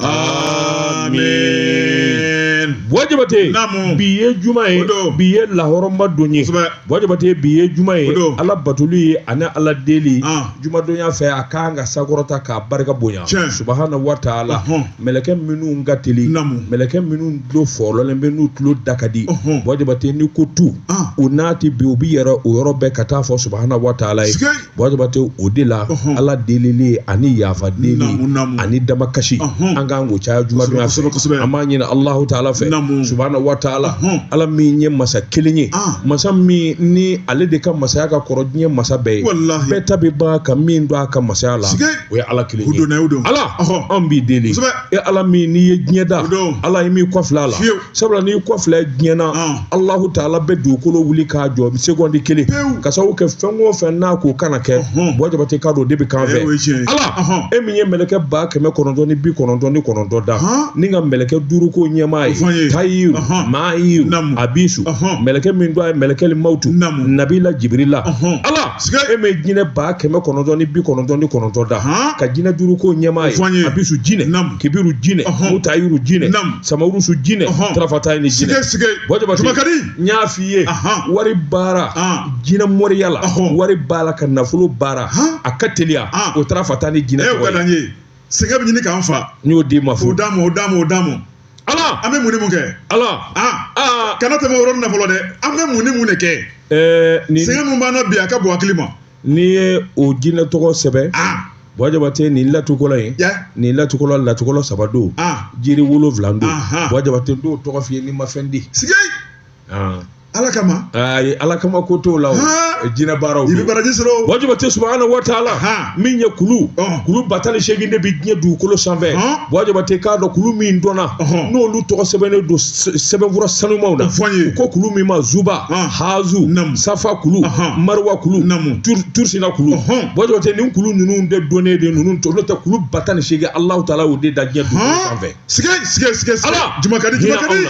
amen bɔ jabate namu bi ye juma ye bi ye lahɔrɔma don ye bɔ jabate bi ye juma ye ala batoli ye ani ala deli ah. juma donya fɛ a kan ka sankɔrɔta k'a barika bonya subahana wa taala mɛlɛkɛ minnu ka teli mɛlɛkɛ minnu tulo fɔlɔlen bɛ n'u tulo da ka di bɔ jabate n'i ko tu ah. u n'a ti bi u bi yɛrɛ o yɔrɔ bɛɛ ka taa fɔ subahana wa taala ye Bate o de la ala deli ani yafa deli ani damakasi an kan k'o caya juma donya an b'a ɲini alahu taala fɛ subahana wa taala ala min ye masa kelen ye masa min ni ale de ka masaya ka kɔrɔ diɲɛ masa bɛɛ ye bɛɛ ta bɛ ban ka min to a ka masaya la o ye ala kelen ye ala anw b'i deli e ala min n'i ye diɲɛ da ala i m'i kɔ fili a la sabula n'i kɔ fili diɲɛ na alahu taala bɛ dugukolo wuli k'a jɔ sekondi kelen k'a sabu kɛ fɛn o fɛn n'a ko kana kɛ bɔ jabate k'a don de bɛ kan fɛ ala e min ye mɛlɛkɛ ba kɛmɛ kɔnɔntɔn ni bi kɔnɔntɔn ni kɔnɔntɔn da ni ka mɛlɛkɛ duuru k'o ɲɛmaa ye tayiru mayiru abisu mɛlɛkɛ min don a ye mɛlɛkɛ mawutu nabila jibirila ala e min ye jinɛ ba kɛmɛ kɔnɔntɔn ni bi kɔnɔntɔn ni kɔnɔntɔn da ka jinɛ duuru k'o ɲɛmaa ye abisu jinɛ kibiru jinɛ mutayiru jinɛ samarusu jinɛ tarafata ni jinɛ bɔ jabate n y'a f'i ye wari baara jinɛ moriya la wari baara ka nafolo baara a ka teliya o tarafata ni jinɛ ye sɛgɛn bɛ ɲini k'an fa n y'o d'i ma fo o d'a ma o d'a ma o d'a ma ala an bɛ mun ni mun kɛ ala kana tɛmɛ o yɔrɔ nafolo dɛ an bɛ mun ni mun de kɛ sɛgɛn min b'an na bi a ka bon hakili ma n'i ye o jinɛ tɔgɔ sɛbɛn bɔ jabate nin latikɔlɔn ye nin latikɔlɔn latikɔlɔn saba don jiri wolonwula don bɔ jabate n t'o tɔgɔ f'i ye n'i ma fɛn di ala kama ayi ala kama ko t'o la jinɛ baaraw i bɛ baraji sɔrɔ bɔ jabate subahana wa taala min ye kulu kulu ba tan ni segin de bɛ diɲɛ dugukolo sanfɛ bɔ jabate k'a dɔn kulu min dɔnna n'olu tɔgɔ sɛbɛnnen don sɛbɛnfura sanumaw na fɔ ye ko kulu min ma zuba hazu namu safa kulu maruwa kulu namu tursina kulu bɔ jabate nin kulu ninnu de dɔnnen de ninnu to n'o tɛ kulu ba tan ni seegin alahu taala y'o de da diɲɛ dugukolo sanfɛ. siga siga siga siga ala juma ka di juma ka di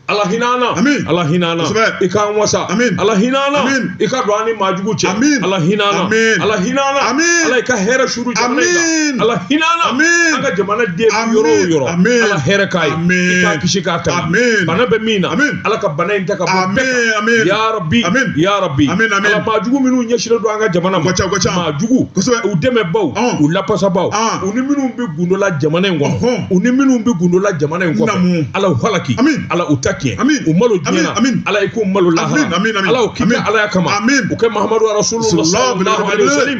ala hinɛ an na amin ala hinɛ an na i k'an wasa amin ala hinɛ an na amin i ka don an ni maajugu cɛ amin ala hinɛ an na amin ala hinɛ an na amin ala i ka hɛrɛ suuru jamana in kan ala hinɛ an na an ka jamanaden yɔrɔ o yɔrɔ ala hɛrɛ k'a ye i k'a kisi k'a tanga bana bɛ min na ala ka bana in ta ka bɔ bɛɛ kan ya rabi ya rabi ala maa jugu minnu ɲɛsinnen don an ka jamana ma maa jugu u dɛmɛbaaw u lapasabaaw u ni minnu bɛ gundola jamana in kɔnɔ u ni minnu bɛ gundola jamana in kɔnɔ ala u halaki ala u ta tiɲɛ u malo diɲɛ na ala i k'u malo lahara ala o k'i ka alaya kama o kɛ mahamadu rasulullah sallallahu alaihi wasallam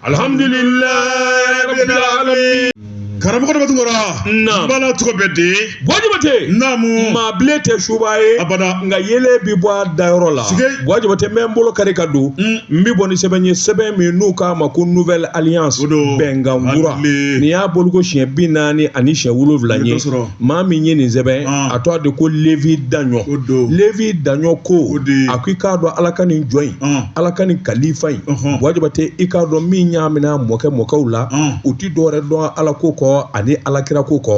alhamdulilayi karamɔgɔ dɔ bɛ tun kɔrɔ naamu bala tɔgɔ bɛ di bua jabate naamu maa bilen tɛ subaa ye abada nka yele bi bɔ a dayɔrɔ la bua jabate mɛ n bolo kari ka don mm. n bi bɔ ni sɛbɛn ye sɛbɛn min n'u k'a ma ko nouvelle alliance bɛnkan kura nin y'a bɔli ko siɲɛ bi naani ani siɲɛ wolonwula ye maa min ye nin sɛbɛn ah. a tɔgɔ de ko levi daɲɔ levi daɲɔ ko a ko i k'a dɔn ala ka nin jɔn in ah. ala ka nin kalifa in bua jabate i k'a dɔn min y'a minɛ a mɔkɛ mɔkɛw la ah. u ti dɔwɛrɛ dɔn ala ko kɔ ani alakira ko kɔ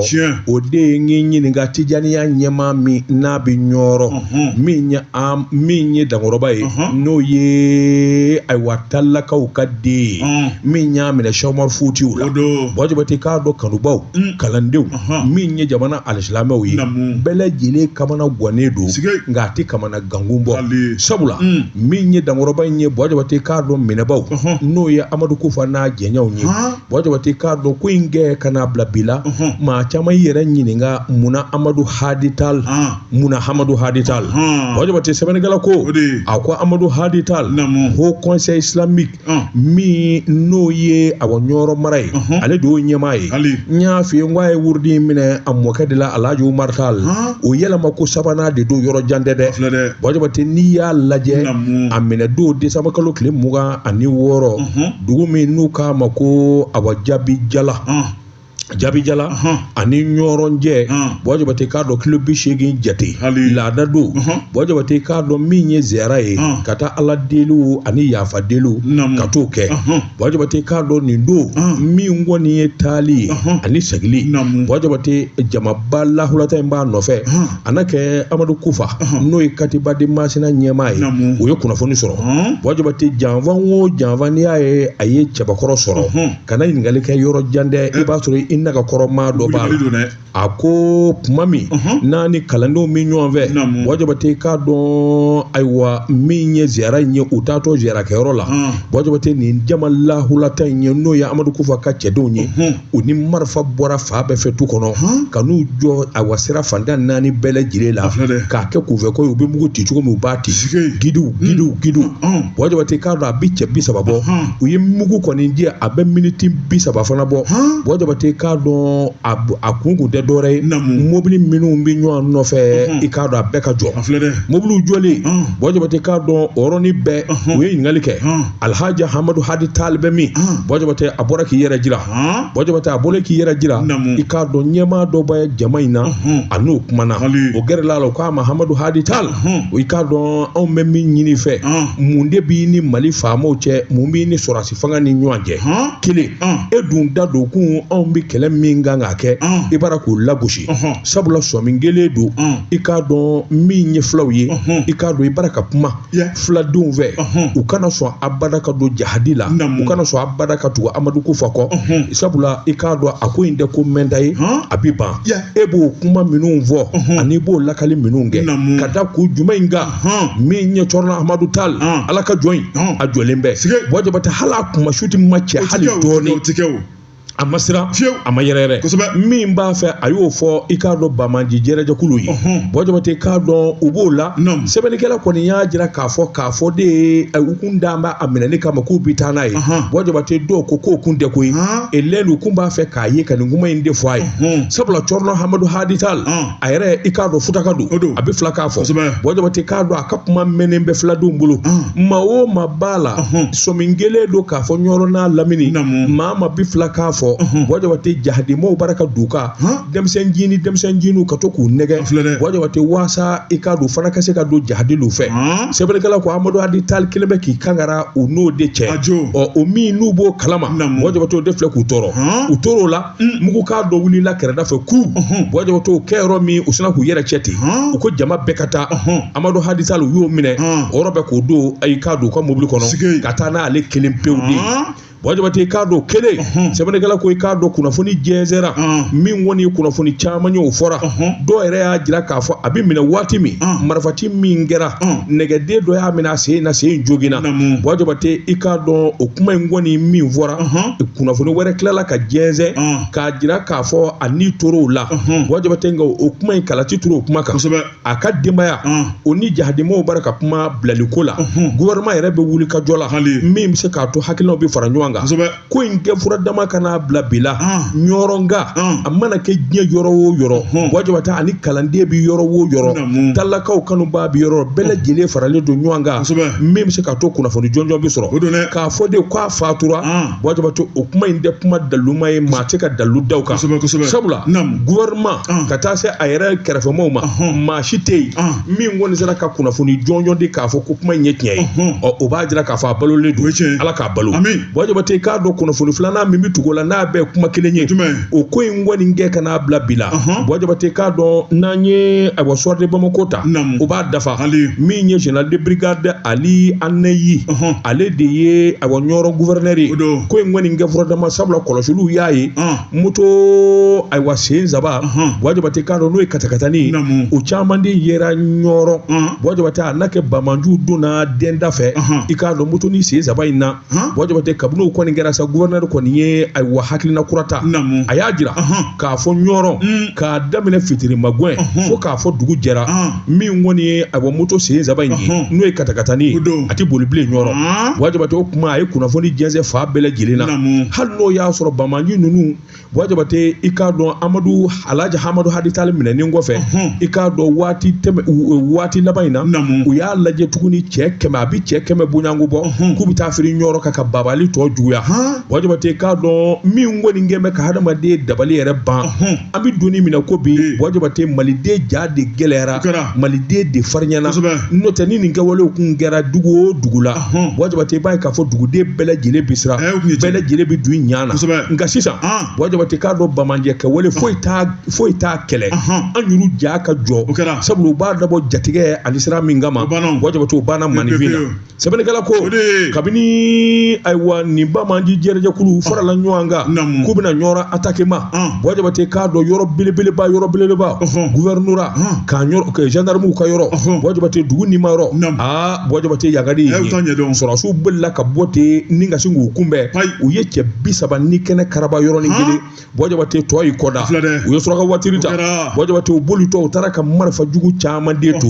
o de ye n ɲininka tijaniya ɲɛmaa min n'a bɛ ɲɔrɔ min ye dankɔrɔba ye n'o ye ayiwa talakaw ka den ye min y'a minɛ sɛk umaru futiyu la bua jabate k'a dɔn kanubaw mm. kalandenw min ye jamana alisilamɛw ye bɛɛ lajɛlen kamana gannen don nka a tɛ kamana gankun bɔ sabula mm. min ye dankɔrɔba in ye bua jabate k'a dɔn minɛbaaw n'o ye amadu kufa n'a jɛɲɔgɔnw ye bua jabate k'a dɔn ko in kɛ ka n'a bila bi la maa caman y'i yɛrɛ ɲininka munna amadu hadi tal munna amadu hadi tal bua jabate sɛbɛnnikɛla ko a ko amadu hadi tal haut conseil islamique min n'o ye awa ɲɔrɔ mara ye ale de y'o ɲɛmaa ye n y'a f'i ye n ko a ye wurudi in minɛ a mɔkɛ de la alhaji umaru tali o yɛlɛma ko sabanan de don yɔrɔ jan tɛ dɛ bua jabate n'i y'a lajɛ a minɛ don desanba kalo tile mugan ani wɔɔrɔ dugu min n'u k'a ma ko awa jabijala jabijala ani ɲɔrɔ cɛ bua jabate k'a dɔn kilo bi seegin jate laada don bua jabate k'a dɔn min ye ziyara ye ka taa ala deliw ani yafa deliw ka t'o kɛ bua jabate k'a dɔn nin don min kɔni ye taali ye ani segili bua jabate jamaba lahulata in b'a nɔfɛ a na kɛ amadu kufa n'o ye katiba de masina ɲɛmaa ye o ye kunnafoni sɔrɔ bua jabate janfan o janfan n'i y'a ye a ye cɛbakɔrɔ sɔrɔ kana ɲininkali kɛ yɔrɔ jan dɛ i b'a sɔrɔ i naga kɔrɔ maa dɔ b'a la Wuli don dɛ. a ko tuma min n'a ni kalandenw bɛ ɲɔgɔn fɛ Naamu. bua jabate k'a dɔn ayiwa min ye ziyara in ye u taatɔ ziyara kɛyɔrɔ la Ɔn. bua jabate nin jama lahulata in ye n'o ye amadu kufa ka cɛdenw ye u ni marifa bɔra fan bɛɛ fɛ tu kɔnɔ ka n'u jɔ ayiwa sira fan tan ni naani bɛɛ lajɛlen la filɛ dɛ. k'a kɛ kunfɛ ko ye u bɛ mugu ci cogo min u b'a ci Sike. gidiw gidiw gidiw Ɔn. bua jabate k'a dɔn a bɛ cɛ bi saba bɔ u ye mugu kɔni ci a bɛ miniti bi saba fana bɔ bua jabate k'a dɔn a kun kun tɛ dɔwɛrɛ ye mobili minnu bɛ ɲɔgɔn nɔfɛ i k'a dɔn a bɛɛ ka jɔ mobiliw jɔlen bua jabate k'a dɔn o yɔrɔnin bɛɛ u ye ɲininkali kɛ alihaji amadu hadi tali bɛ min bua jabate a bɔra k'i yɛrɛ jira buwa jabate a bɔra k'i yɛrɛ jira i k'a dɔn ɲɛmaa dɔ bɛ jama in na a n'o kumana o gɛrɛla la o k'a ma hamadu hadi tali i k'a dɔn anw bɛ min ɲini fɛ mun de b'i ni mali faamaw cɛ mun b'i ni sɔrɔdasi fanga ni ɲɔgɔn cɛ kelen e dun da don kun anw bɛ kɛlɛ min kan k'a kɛ i bara k'o lagosi sabula sɔmi kɛlen don i k'a dɔn min ye fulaw ye i k'a dɔn i bara ka kuma fuladenw fɛ u kana sɔn abada ka don jahadi la u kana sɔn abada ka tugu amadu kufa kɔ sabula i k'a dɔn a ko in tɛ ko mɛnta ye a bɛ ban e b'o kuma minnu fɔ ani b'o lakali minnu kɛ ka da ko juguman in kan min ye cɔrɔnɔ amadu tali ala ka jɔn in a jɔlen bɛ buwa jabate hali a kuma su tɛ ma cɛ hali dɔɔnin a ma siran a ma yɛrɛyɛrɛ min b'a fɛ a y'o fɔ i k'a dɔn banbaanci jɛrɛjɛkulu ye buwa jabate k'a dɔn u b'o la sɛbɛnnikɛla kɔni y'a jira k'a fɔ k'a fɔ de ye u kun dabɔ a minɛli kama k'u bi taa n'a ye buwa jabate dɔw ko k'o kun tɛ ko ye elelu kun b'a fɛ k'a ye ka nin kuma in de fɔ a ye sabula cɔrɔnɔ hamadu hadi tali a yɛrɛ i k'a dɔn futaka don a bɛ fulakan fɔ buwa jabate k'a dɔn a ka kuma mɛnnen bɛ fuladenw bolo maa o maa b'a la sɔmi kɛlen don k'a fɔ ɲɔrɔ n'a lamini maa min bi fulakan fɔ buwa jabate jahadimaw bara ka duka denmisɛn jini denmisɛn jiniw ka to k'u nɛgɛn buwa jabate waasa i k'a dɔn u fana ka se ka don jahadilu fɛ sɛbɛnnikɛla ko amadu hadi tali kelen bɛ k'i kangara u n'o de cɛ o minnu b'o kalama buwa jabate o de filɛ k'u tɔɔrɔ u tor'o la mugukan dɔ wulila kɛrɛda fɛ ku buwa jabate o kɛ yɔrɔ min u sina k'u yɛrɛ cɛ ten u ko jama bɛɛ ka taa amadu hadi tali u y'o minɛ o yɔrɔ bɛɛ k'o don i k'a dɔn u ka mobili kɔnɔ ka taa n'ale kelen pewu de buwa jabate i k'a dɔn kelen sɛbɛnnikɛla ko i k'a dɔn kunnafoni jɛnsɛra min kɔni ye kunnafoni caman ye o fɔra dɔw yɛrɛ y'a jira k'a fɔ a bɛ minɛ waati min marifati min kɛra nɛgɛden dɔ y'a minɛ a sen na sen joginna buwa jabate i k'a dɔn o kuma in kɔni min fɔra kunnafoni wɛrɛ tilala ka jɛnsɛn k'a jira k'a fɔ a ni tor'o la buwa jabate nka o kuma in kalati turu o kuma kan a ka denbaya o ni jahadimaw bara ka kuma bilaliko la gouvernement yɛrɛ bɛ wulikajɔ la min bɛ se k'a to hakilinaw bɛ fara ɲɔgɔn kan ko in kɛ fura dama kana bila bila ɲɔrɔnka a mana kɛ diɲɛ yɔrɔ o yɔrɔ buwa jabate ani kalanden bɛ yɔrɔ o yɔrɔ talakaw kanubaa bɛ yɔrɔ bɛɛ lajɛlen faralen don ɲɔgɔn kan min bɛ se k'a to kunnafoni jɔnjɔn bɛ sɔrɔ k'a fɔ de fatura buwa jabate o kuma in tɛ kuma daluma ye maa tɛ ka dalu d'a kan sabula gouvernement ka taa se a yɛrɛ kɛrɛfɛmaw ma maa si tɛ yen min kɔni sera ka kunnafoni jɔnjɔn di k'a fɔ ko kuma in ye tiɲɛ ye ɔ o b'a jira k'a fɔ a balolen don ala k'a balo buwa jabate k'a dɔn kunnafoni filanan min bɛ tugu o la n'a bɛɛ kuma kelen ye o ko in kɔni kɛ kana bila bila buwa jabate k'a dɔn n'an ye a soir de bamako ta o b'a dafa min ye général de brigade ali anayi ale de ye ayiwa ɲɔrɔ gufɛrɛnɛri ye ko in kɔni kɛ furadama sabula kɔlɔsiliw y'a ye moto ayiwa sen saba buwa jabate i k'a dɔn n'o ye katakatani o caman de yera ɲɔrɔ buwa jabate a n'a kɛ banbaanciw donna denda fɛ i k'a dɔn moto ni sen saba in na buwa jabate kabini o kɔni kɛra sa gufɛrɛnɛri kɔni ye ayiwa hakilina kura ta a y'a jira k'a fɔ ɲɔrɔ k'a daminɛ fitiri magɛn fo k'a fɔ dugu jɛra min kɔni ye ayiwa moto sen saba in ye n'o ye katakatani a tɛ boli bilen ɲɔrɔ buwa jabate o kuma a ye kunnafoni jɛnsɛn fan bɛɛ lajɛlen na hali n'o y'a sɔrɔ banbaanci ninnu buwa jabate i k'a dɔn amadu alaji hamadu hadi tali minɛnen kɔfɛ i k'a dɔn waati tɛmɛ waati laban in na u y'a lajɛ tuguni cɛ kɛmɛ a bɛ cɛ kɛmɛ bonyanko bɔ k'u bɛ taa firi ɲɔrɔ kan ka babali tɔ juguya buwa jabate k'a dɔn min kɔni kɛlen bɛ ka hadamaden dabali yɛrɛ ban an bɛ don min na ko bi buwa jabate maliden ja de gɛlɛyara maliden de farinyana n'o tɛ ni nin kɛwalew kun kɛra dugu o dugu la buwa jabate b'a ye k'a fɔ duguden bɛɛ lajɛlen bɛ siran bɛɛ lajɛlen bɛ don ɲa na nka sisan buwa jabate k'a dɔn banbaanciya kɛwale foyi foyi t'a kɛlɛ an y'olu ja ka jɔ sabula u b'a dabɔ jatigɛ ani siran min kama buwa jabate o banna maninfin na sɛbɛnnikɛla ko kabini ayiwa nin banbaanci jɛrɛjɛkulu farala ɲɔgɔn kan k'u bɛna ɲɔrɔ atake ma buwa jabate k'a dɔn yɔrɔ belebeleba yɔrɔ belebeleba guvɛrinora ka zandaramuw ka yɔrɔ buwa jabate dugu nima yɔrɔ aa buwa jabate yagadi sɔrɔdasiw bolila ka bɔ ten ni ka sin k'u kunbɛn u ye cɛ bi saba ni kɛnɛ karaba yɔrɔnin kelen buwa jabate tɔ y'i kɔ da u ye suraka watiri ta buwa jabate u bolitɔ u taara ka marifa jugu caman de to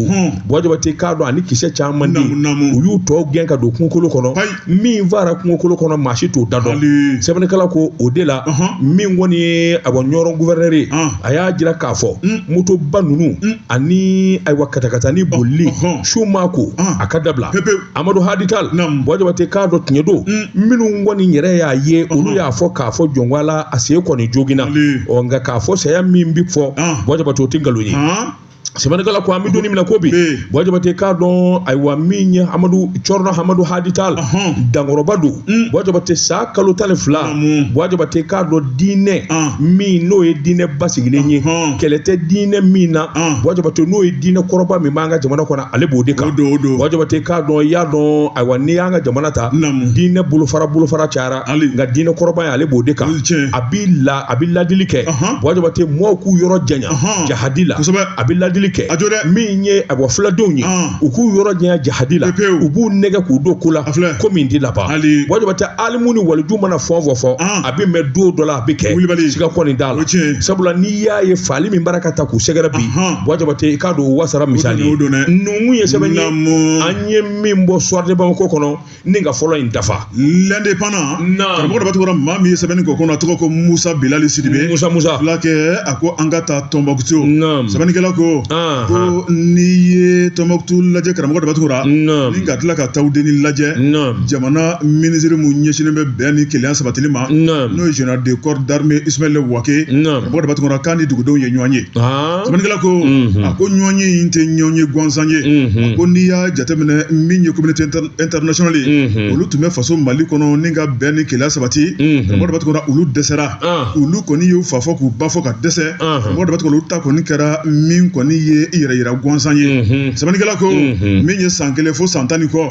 buwa jabate k'a dɔn ani kisɛ caman de u y'u tɔ gɛn ka don kungokolo kɔnɔ min faara kungokolo kɔnɔ maa si t'o da dɔn sɛbɛnnikɛla ko o de la min kɔni ye ayiwa ɲɔrɔ guvɛrɛnɛri ye a y'a jira k'a fɔ motoba ninnu ani ayiwa katakatani bolili su ma a ko a ka dabila amadu hadi tali buwa jabate k'a dɔn tiɲɛ don minnu kɔni yɛrɛ y'a ye olu y'a fɔ k'a fɔ jɔn ko ala a sen kɔni joginna ɔ nka k'a fɔ saya min bɛ fɔ buwa jabate o tɛ nkalon ye sɛbɛnnikɛla ko an bɛ donnin min na ko bi buwa jabate k'a dɔn ayiwa min ye amadu cɛrinɔ amadu hadi tali dankɔrɔba don buwa jabate san kalo tan ni fila buwa jabate k'a dɔn diinɛ min n'o ye diinɛ basigilen ye kɛlɛ tɛ diinɛ min na buwa jabate n'o ye diinɛ kɔrɔba min b'an ka jamana kɔnɔ ale b'o de kan buwa jabate k'a dɔn i y'a dɔn ayiwa n'i y'an ka jamana ta diinɛ bolofara bolofara cayara nka diinɛ kɔrɔba ye ale b'o de kan a b'i la a bɛ ladili kɛ buwa jabate mɔɔw k'u yɔrɔ janya jahadi la a bɛ ladili kɛ min ye ayiwa filadenw ye u k'u yɔrɔ janya jahadi la u b'u nɛgɛ k'u don ko la ko min tɛ laban buwa jabate alimu ni waliju mana fɔ fɔ fɔ a bɛ mɛn don dɔ la a bɛ kɛ siga kɔni t'a la sabula n'i y'a ye fagali min bara ka taa k'u sɛgɛrɛ bi bɔ jabate i k'a dɔn wasara misali ye nunkun ye sɛbɛn ye an ye min bɔ soir de bamako kɔnɔ ni ka fɔlɔ in dafa l'indépendant karamɔgɔ daba tunkara maa min ye sɛbɛnni k'o kɔnɔ a tɔgɔ ko musa bilali sidibe musa musa filakɛ a ko an ka taa tombouctou sɛbɛnnikɛla ko ko n'i ye tombouctou lajɛ karamɔgɔ daba tunkara ni ka tila ka tawudeni lajɛ jamana minisiri mun ɲɛsinnen bɛ bɛn ni kelenya sabatili ma n'o ye général de corps d'armée ismaël wagué karamɔgɔ daba tunkara k'a ni dugudenw ye ɲɔgɔn ye sɛbɛnnikɛla ko a ko ɲɔgɔn ye in tɛ ɲɔgɔn ye gansan ye a ko n'i y'a jateminɛ min ye communauté internationale ye olu tun bɛ faso mali kɔnɔ ni ka bɛn ni kelenya sabati karamɔgɔ daba tunkara olu dɛsɛra olu kɔni y'u fa fɔ k'u ba fɔ ka dɛsɛ karamɔgɔ daba tunkara olu ta kɔni kɛra min kɔni ye i yɛrɛ yira gansan ye sɛbɛnnikɛla ko min ye san kelen fo san tan ni kɔ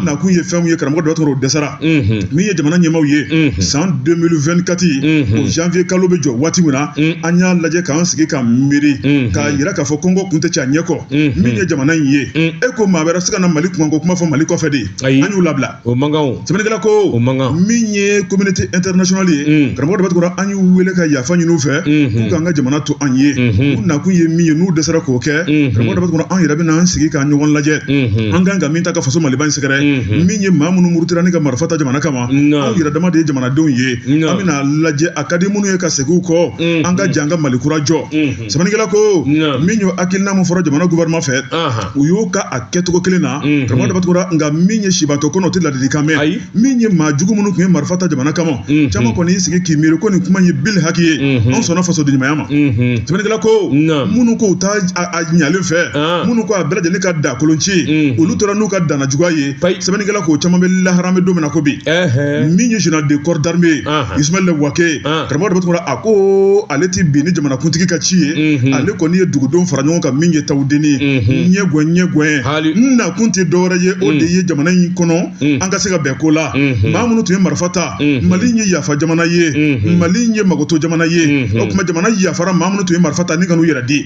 nakun ye fɛn min ye karamɔgɔ daba tunkara o dɛsɛra min ye jamana ɲɛmaaw ye san 2024 o janvier kalo bɛ jɔ waati min na an y'a lajɛ k'an sigi ka miiri k'a yira k'a fɔ kɔngɔ kun tɛ cɛ a ɲɛ kɔ min ye jamana in ye e ko maa wɛrɛ si kana mali kunkanko kuma fɔ mali kɔfɛ de an y'u labila o man kan sɛbɛnnikɛla ko o man kan min ye communauté internationale ye karamɔgɔ daba tunkara an y'u wele ka yafa ɲini u fɛ k'u k'an ka jamana to an ye u nakun ye min ye n'u dɛsɛra k'o kɛ karamɔgɔ daba tunkara an yɛrɛ bɛ n'an sigi k'an ɲɔgɔn lajɛ an kan ka min ta ka faso maliba in sɛgɛrɛ mhm. min ye maa minnu murutira ni ka marifa ta jamana kama anw yɛrɛ dama de ye jamanadenw ye an bɛna lajɛ a ka di minnu ye ka segin u kɔ mhm. an ka jɛ an ka mali kura jɔ mhm. sɛbɛnnikɛla ko min y'o hakilina min fɔra jamana gouvernement fɛ u y'o kɛ a kɛcogo kelen na karamɔgɔ daba tunkara nka min ye sibantɔ kɔnɔ o tɛ ladilikan mɛn min ye maa jugu minnu tun ye marifa ta jamana kama mhm. caman kɔni y'i sigi k'i miiri ko nin kuma ye bili haki ye mhm. anw sɔnna fasodenɲumanya ma mhm. sɛbɛnnikɛla ko minnu ko u t'a ɲalen fɛ ah. minnu ko a bɛɛ lajɛlen ka da kolonci olu tora n'u ka danajuguya ye sɛbɛnnikɛla ko caman bɛ lahara bɛ don min na ko bi min ye général de corps d'armée ye ah. ismaël wagué ah. karamɔgɔ daba tunkara a ko ale tɛ bin ni jamanakuntigi ka ci ye ale kɔni ye dugudenw fara ɲɔgɔn kan min ye tawudeni ye ɲɛgɔn ɲɛgɔn n nakun tɛ dɔwɛrɛ ye o de ye jamana in kɔnɔ an ka se ka bɛn ko la maa minnu tun ye marifa ta mali ye yafa jamana ye mali ye makoto jamana ye o tuma jamana yafara maa minnu tun ye marifa ta ni ka n'u yɛrɛ di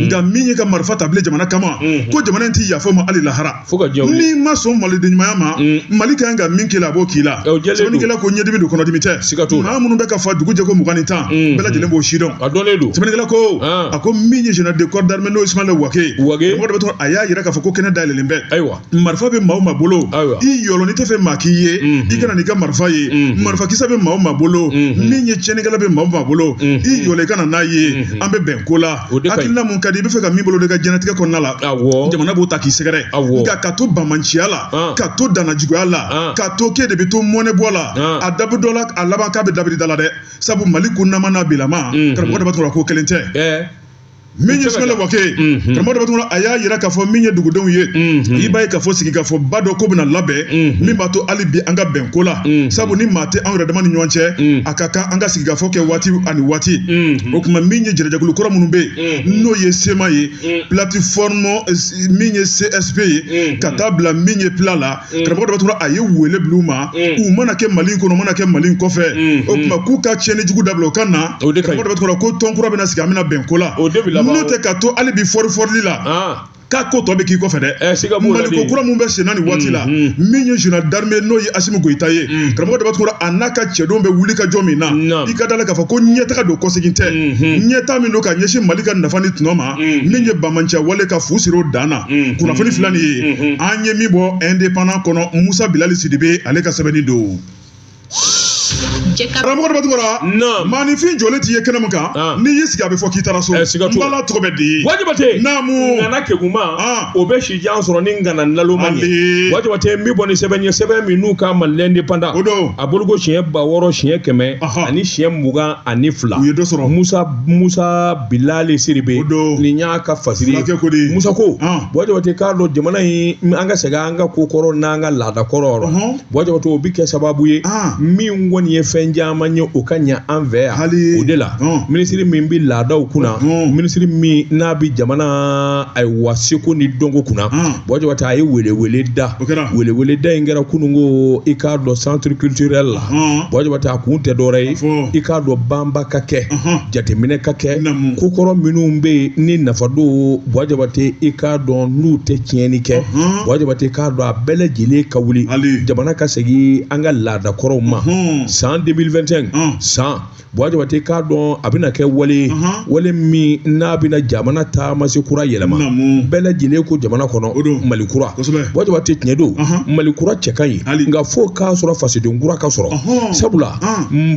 nka min ye ka marifa ta bilen jamana kama ko jamana in tɛ yafa ma hali lahara n'i ma sɔn maliden ɲumanya ma mali ka kan ka min k'i la a b'o k'i la sɛbɛnnikɛla ko ɲɛdimi don kɔnɔdimi tɛ maa minnu bɛ ka fa dugu jɛ ko mugan ni tan bɛɛ lajɛlen b'o sidɔn sɛbɛnnikɛla ko a ko min ye général de corps d'armée n'o ye Ismaël Wagué ye karamɔgɔ daba tunkara a y'a yira k'a fɔ ko kɛnɛ dayɛlɛlen bɛ marifa bɛ maa o maa bolo i yɔlɔ n'i tɛ fɛ maa k'i ye i ka na n'i ka marifa ye marifakisɛ bɛ maa o maa bolo min ye tiɲɛnikɛla bɛ maa o maa bolo i yɔlɔ i ka na n'a ye an bɛ bɛn ko la hakilina mun ka di i bɛ fɛ ka min boloda i ka diɲɛnatigɛ kɔnɔna la jamana b'o ta k'i sɛgɛrɛ nka ka to banbaanciya la ka to danajuguya la ka to k'e de bɛ to mɔnɛ bɔ la a dabu dɔ la a laban k'a bɛ dabiri da la dɛ sabu mali kununnama n'a bilama karamɔgɔ daba tunkara ko kelen tɛ min ye isimayila wage ye karamɔgɔ daba tunkara a y'a yira k'a fɔ min ye dugudenw ye i b'a ye k'a fɔ sigikafɔba dɔ ko bɛna labɛn min b'a to hali bi an ka bɛn ko la sabu ni maa tɛ anw yɛrɛ dama ni ɲɔgɔn cɛ a ka kan an ka sigikafɔ kɛ waati ani waati o tuma min ye jɛrɛjɛkulu kɔrɔ minnu bɛ yen n'o ye CMA ye plateforme min ye CSP ye ka taa bila min ye FLA la karamɔgɔ daba tunkara a ye wele bila u ma u mana kɛ mali kɔnɔ u mana kɛ mali kɔfɛ o tuma k'u ka tiɲɛni jugu dabila u ka na o de karamɔgɔ daba tunkara ko tɔn kura bɛna sigi an bɛna bɛn ko la o de bila n'o tɛ ka to hali bi fɔri fɔrili la k'a ko tɔ bɛ k'i kɔfɛ dɛ mali ko kura min bɛ senna nin waati la min ye général d'armée n'o ye asimi goyita ye karamɔgɔ daba tunkara a n'a ka cɛdenw bɛ wuli ka jɔ min na i ka da la k'a fɔ ko ɲɛtaga don kɔsegin tɛ ɲɛta min don ka ɲɛsin mali ka nafa ni tɔnɔ ma mm. min ye banbaanciya wale ka fu siri o dan na mm. kunnafoni mm. fila nin ye mm-hmm. an ye min bɔ indépendant kɔnɔ musa bilali sidibe ale ka sɛbɛnni don karamɔgɔ daba tunkara maanifin jɔlen t'i ye kɛnɛ min kan ah. n'i y'i sigi a bɛ fɔ k'i taara so eh, n bala tɔgɔ bɛ di bwa jabate naamu ŋana kegunma ah. o bɛ si jan sɔrɔ ni ŋana naloma ye bwa jabate n bɛ bɔ ni sɛbɛn ye sɛbɛn min n'u k'a ma l'indépendant o don a bɔliko siɲɛ ba wɔɔrɔ siɲɛ kɛmɛ ani siɲɛ mugan ani fila u ye dɔ sɔrɔ musa musa bilali sidibe nin y'a ka fasiri musa ko bwa jabate k'a dɔn jamana in an ka segin an ka ko kɔrɔ n'an ka laada kɔrɔ bwa jabate o bɛ kɛ sababu ye min kɔni ye fɛn caman ye o ka ɲɛ an fɛ yan o de la minisiri min bɛ laadaw kunna minisiri min n'a bɛ jamana ayiwa seko ni dɔnko kunna bwa jabate a ye welewele da welewele da in kɛra kununko i k'a dɔn centre culturel la bwa jabate a kun tɛ dɔwɛrɛ ye i k'a dɔn banba ka kɛ jateminɛ ka kɛ kokɔrɔ minnu bɛ yen ni nafa don bwa jabate i k'a dɔn n'u tɛ tiɲɛni kɛ bwa jabate k'a dɔn a bɛɛ lajɛlen ka wuli jamana ka segin an ka laadakɔrɔw ma san 2021 san Bwa jabate k'a dɔn a bɛna kɛ wale wale min n'a bɛna jamana taamasen kura yɛlɛma bɛɛ lajɛlen ko jamana kɔnɔ o don mali kura bwa jabate tiɲɛ don mali kura cɛ ka ɲi nka fo k'a sɔrɔ fasoden kura ka sɔrɔ sabula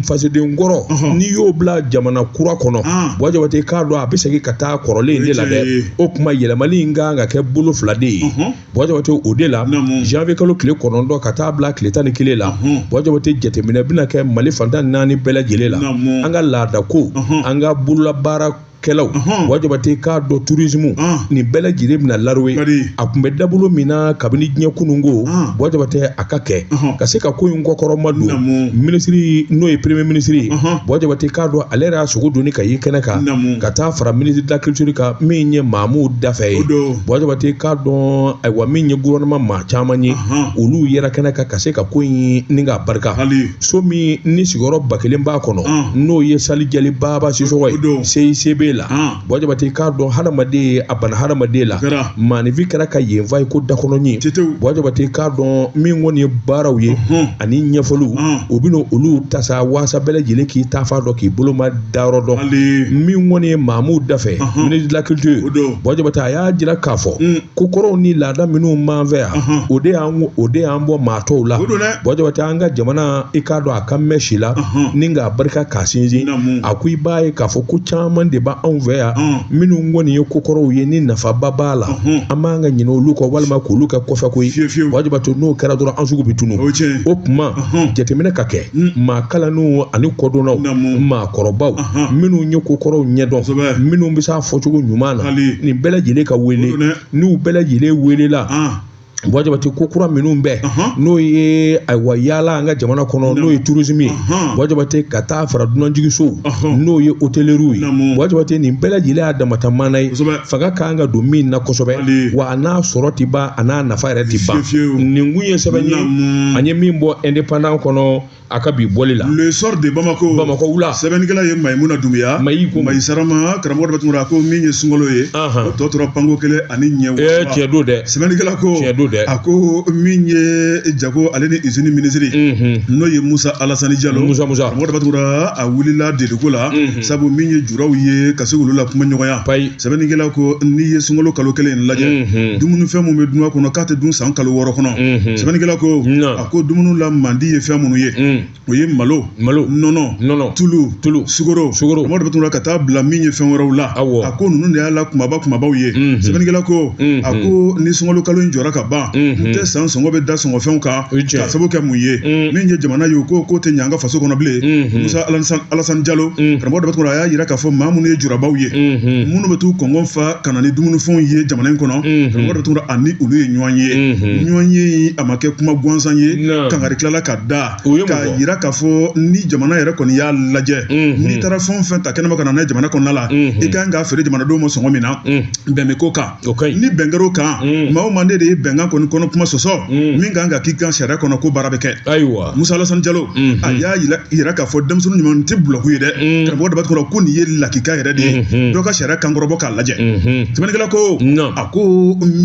fasoden kɔrɔ n'i y'o bila jamana kura kɔnɔ bwa jabate k'a dɔn a bɛ segin ka taa kɔrɔlen de la dɛ o tuma yɛlɛma in ka kan ka kɛ bolo fila de ye bwa jabate o de la janvier kalo tile kɔnɔntɔn ka taa bila tile tan ni kelen la bwa jabate jateminɛ bɛna kɛ mali fan tan naani bɛɛ lajɛlen la an ka laada ko an ka bololabaara kɛlaw bwa jabate k'a dɔn tourisme nin bɛɛ lajɛlen bɛna laro ye a tun bɛ dabolo min na kabini diɲɛ kununko bwa jabate a ka kɛ ka se ka ko in kɔkɔrɔmadon minisiri n'o ye premier ministre bwa jabate k'a dɔn ale yɛrɛ y'a sogo doni ka ye kɛnɛ kan ka taa fara ministre de la culture kan min ye mamu dafɛ ye Buwa Jabate k'a dɔn ayiwa min ye gouvernement maa caman ye olu yera kɛnɛ kan ka se ka ko in ni ka barika so min ni sigiyɔrɔ ba kelen b'a kɔnɔ n'o ye salle Jali Baba Sisɔkɔ ye CICB la Buwa Jabate k'a dɔn hadamaden a bana hadamaden la maaninfin kɛra ka yen fa i ko dakɔnɔɲin Buwa Jabate k'a dɔn min kɔni ye baaraw ye ani ɲɛfɔliw u bɛna olu tasa walasa bɛɛ lajɛlen k'i taafan dɔn k'i bolo dayɔrɔ dɔn min kɔni ye Mamu Dafɛ ministre de la culture Buwa Jabate a y'a jira k'a fɔ kokɔrɔw ni laada minnu b'an fɛ yan o de o de y'an bɔ maa tɔw la Buwa Jabate an ka jamana i k'a dɔn a ka mɛn si la ni k'a barika k'a sinsin a ko i b'a ye k'a fɔ ko caman de b'anw fɛ yan minnu kɔni ye kokɔrɔw ye ni nafaba b'a la an b'an ka ɲinɛ olu kɔ walima k'olu kɛ kɔfɛko ye Buwa Jabate n'o kɛra dɔrɔn an sugu bɛ tunun o tuma jateminɛ ka kɛ mm. maa kalannenw ani kodɔnnaw maakɔrɔbaw minnu ye kokɔrɔw ɲɛdɔn minnu bɛ se a fɔcogo ɲuman na nin bɛɛ lajɛlen ka wele n'u bɛɛ lajɛlen welela ah. Buwa Jabate ko kura minnu bɛɛ n'o ye ayiwa yaala an ka jamana kɔnɔ n'o ye tourisme ye Buwa Jabate ka taa fara dunanjiginsow n'o ye hôtellerie ye Buwa Jabate nin bɛɛ lajɛlen y'a damata mana ye fanga ka kan ka don min na kosɛbɛ wa a n'a sɔrɔ tɛ ban a n'a nafa yɛrɛ tɛ ban nin kun ye sɛbɛn ye an ye min bɔ indépendant kɔnɔ a ka bi bɔli la le Soir de Bamako Bamako wula sɛbɛnnikɛla ye Mayimuna Dunbuya Mayi ko Mayi Sarama karamɔgɔ Dotum a ko min ye sunkalo ye o tɔ tora panko kelen ani ɲɛ wɔɔrɔ tiɲɛ don dɛ sɛbɛnnikɛla ko tiɲɛ don dɛ a ko min ye jago ale ni usine minisiri n'o ye Musa Alasani Jalo Musa Musa karamɔgɔ Dotum a wulila deliko la sabu min ye juraw ye ka se olu la kuma ɲɔgɔnya payi sɛbɛnnikɛla ko n'i ye sunkalo kalo kelen in lajɛ mhm. dumunifɛn minnu bɛ dun a kɔnɔ k'a tɛ dun san kalo wɔɔrɔ kɔnɔ mhm. sɛbɛnnikɛla ko a ko dumuni lamandi ye fɛn minnu ye mm. o ye malo malo nɔnɔ nɔnɔ tulu tulu sukoro sukoro karamɔgɔ Dotum ka taa bila min ye fɛn wɛrɛw la a ko ninnu de y'a la kumaba kumabaw ye mhm. sɛbɛnnikɛla ko a ko ni sunkalo kalo in jɔra ka ban n tɛ san sɔngɔ bɛ da sɔngɔfɛnw kan k'a sabu kɛ mun ye min ye jamana ye k'o ko tɛ ɲɛ an ka faso kɔnɔ bilen musa alasan jalo karamɔgɔ Dotum a y'a yira k'a fɔ maa minnu ye jurabaw ye minnu bɛ t'u kɔngɔ fa ka na ni dumunifɛnw ye jamana in kɔnɔ karamɔgɔ Dotum ani olu ye ɲɔgɔn ye ɲɔgɔn ye a ma kɛ kuma gansan ye kangari tilala ka da k'a yira k'a fɔ ni jamana yɛrɛ kɔni y'a lajɛ n'i taara fɛn fɛn ta kɛnɛma ka na n'a ye jamana kɔnɔna la i ka kan k'a feere jamanadenw ma sɔngɔ min na bɛn bɛ k'o kan o ka ɲi ni bɛn kɛr'o kan mm. maa o maa n'e de ye bɛnkan kɔni kɔnɔ kuma sɔsɔ mm. min kan ka k'i kan sariya kɔnɔ ko baara bɛ kɛ ayiwa musa alasani jalo mm-hmm. a y'a yira k'a fɔ denmisɛnnin ɲuman tɛ bulɔku ye dɛ mm. karamɔgɔ Daba Tunkara ko nin ye lakika yɛrɛ de ye mm-hmm. dɔ ka sariya kan kɔrɔbɔ k'a lajɛ mm-hmm. sɛbɛnnikɛla ko a ko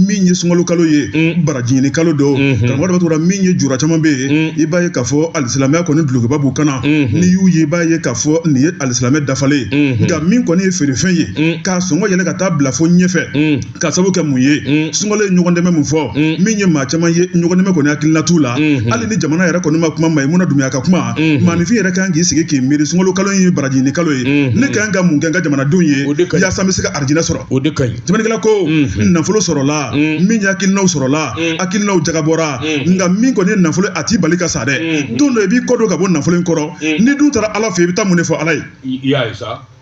min ye sunkalo kalo ye barajiɲini kalo don karamɔgɔ Daba Tunkara min ye jura caman bɛ yen i b'a ye k'a fɔ alisilamɛya kɔni dulokiba b'u kan na n'i y'u ye i b'a ye k'a fɔ nin ye alisilamɛ dafalen ye nka min kɔni ye feerefɛn ye k'a sɔngɔ yɛlɛ ka taa bila fo ɲɛfɛ mm. k'a sabu kɛ mun ye mm. sunkalo ye ɲɔgɔn dɛmɛ mun fɔ mm. min ye maa caman ye ɲɔgɔn dɛmɛ kɔni hakilina t'u la mm-hmm. hali ni jamana yɛrɛ kɔni ma kuma mayimuna dunbuya ka kuma mm-hmm. maanifin yɛrɛ kan k'i sigi k'i miiri sunkalo kalo ye baraji ɲini kalo ye mm-hmm. ne kan ka mun kɛ n ka jamanadenw ye yaasa n bɛ se ka arijinɛ sɔrɔ o de ka ɲi sɛbɛnnikɛla ko nafolo sɔrɔla min ye hakilinaw sɔrɔla hakilinaw jagabɔra nka min kɔni ye nafolo a t'i bali ka sa dɛ don dɔ i b'i kɔ don ka bɔ nafolo in kɔrɔ n'i dun taara ala fɛ i bɛ taa mun de fɔ ala ye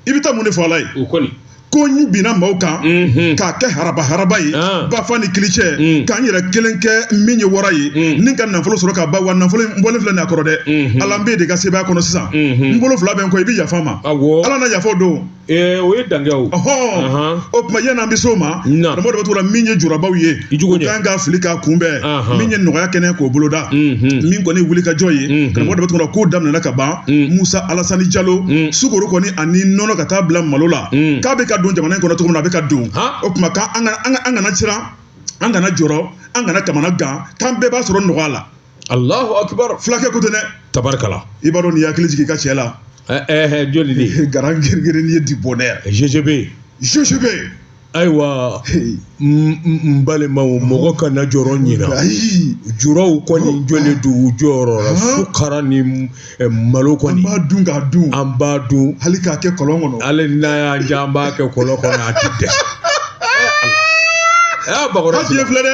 i bɛ taa mun de fɔ ala ye o kɔni ko n binna maaw kan mhm. k'a kɛ haraba haraba ye ah. ba fa ni kili cɛ mm. ka n yɛrɛ kelen kɛ min ye wara ye mm. ni ka nafolo sɔrɔ ka ba wa nafolo n bɔlen filɛ nin a kɔrɔ dɛ mhm. ala n b'e de ka sebaaya kɔnɔ sisan mhm. n bolo fila bɛ n kɔ i bɛ yafa n ma ala na yafa don eh, o ye dankɛ o o tuma yan'an bɛ se o ma karamɔgɔ de bɛ t'o la min ye jurabaw ye u kan ka wuli k'a kunbɛn min ye nɔgɔya kɛnɛ k'o boloda min kɔni wuli ka jɔ ye karamɔgɔ dɔ tɔgɔ k'o daminɛna ka ban musa alasani jalo sukoro kɔni ani nɔnɔ ka taa bila malo la k'a bɛ ka don jamana in kɔnɔ cogo min na a bɛ ka don o tuma k'an kana an kana siran an kana jɔrɔ an kana kamana gan k'an bɛɛ b'a sɔrɔ nɔgɔya la alahu akibar fulakɛ ko tɛ dɛ tabarikala i b'a dɔn n'i hakili jigin i ka cɛ la joli de grand grenier du bonheur ggb ggb ayiwa n balimaw mɔgɔ kana jɔrɔ ɲina juraw kɔni jɔlen don u jɔyɔrɔ la sukara ni malo kɔni an b'a dun k'a dun an b'a dun hali k'a kɛ kɔlɔn kɔnɔ hali n'a y'an diya an b'a kɛ kɔlɔn kɔnɔ a ti dɛsɛ aa bakɔrɔni filɛ dɛ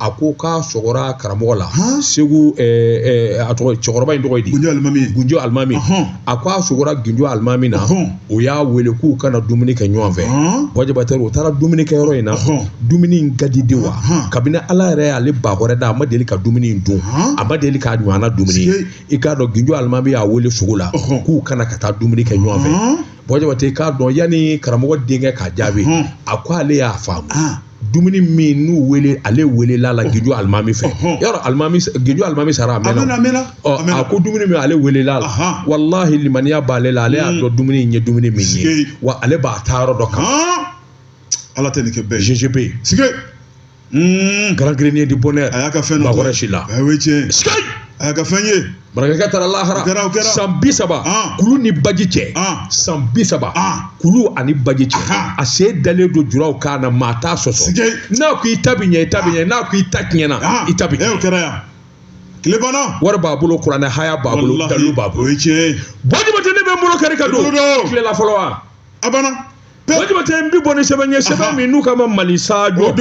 a ko k'a sogora karamɔgɔ la segu a tɔgɔ cɛkɔrɔba in tɔgɔ ye di gunjɔ alimami gunjɔ alimami a ko a sogora gunjɔ alimami na o y'a wele k'u ka na dumuni kɛ ɲɔgɔn fɛ buwa jabate u taara dumuni kɛ yɔrɔ in na dumuni in ka di de wa kabini ala yɛrɛ y'ale bakɔrɔ da a ma deli ka dumuni in dun a ma deli k'a ɲɔgɔnna dumuni i k'a dɔn gunjɔ alimami y'a wele sogo la k'u ka na ka taa dumuni kɛ ɲɔgɔn fɛ buwa jabate k'a dɔn yanni karamɔgɔ denkɛ k'a jaabi a ko ale y'a faamu dumuni min n'u wele ale welela la gunjɔ alimami fɛ yɔrɔ alimami gunjɔ alimami sara a mɛnna ɔ a ko dumuni min ale welela la walahi limaniya b'ale la ale y'a hmm. dɔn dumuni in ye dumuni min ye wa ale b'a taa yɔrɔ dɔn ko ala tɛ nin kɛ bɛɛ ye ggb sige hmm. grand grenier du bonheur a y'a ka fɛn dɔ bakɔrɔ si la o ye tiɲɛ ye a y'a ka fɛn ye Barakɛ taara lahara san bi saba kulu ni baji cɛ san bi saba kulu ani baji cɛ a sen dalen don juraw kan na maa t'a sɔsɔ n'a ko i ta bi ɲɛ i ta bi ɲɛ n'a ko i ta tiɲɛna i ta bi ɲɛ kɛra yan tile banna wari b'a bolo kuranɛ haya b'a bolo dalu b'a bolo o ye tiɲɛ ye buwa jabate ne bɛ n bolo kari ka don tilela fɔlɔ wa a banna Bua Jabate n bi bɔ ni sɛbɛn ye sɛbɛn min n'u k'a ma Mali Sajo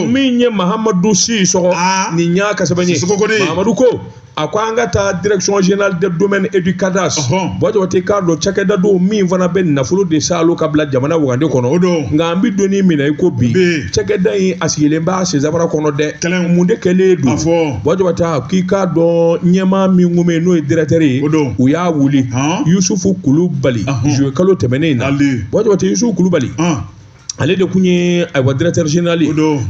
min ye Mahamadu Sisɔgɔ ah. nin y'a ka sɛbɛn ye Mahamadu ko a ko an ka taa direction générale des domaines et du cadastre Bua Jabate k'a dɔn cakɛda don min fana bɛ nafolo de saalo ka bila jamana wagande kɔnɔ nka an bɛ don min na i ko bi cakɛda in a sigilen b'a senzabara kɔnɔ dɛ mun de kɛlen don Bua Jabate k'i k'a dɔn ɲɛmaa min kun bɛ yen n'o ye directeur ye o don u y'a wuli Yusufu Kulubali juillet kalo tɛmɛnen in na Bua Jabate Yusufu Kulubali ale de tun ye ayiwa directeur général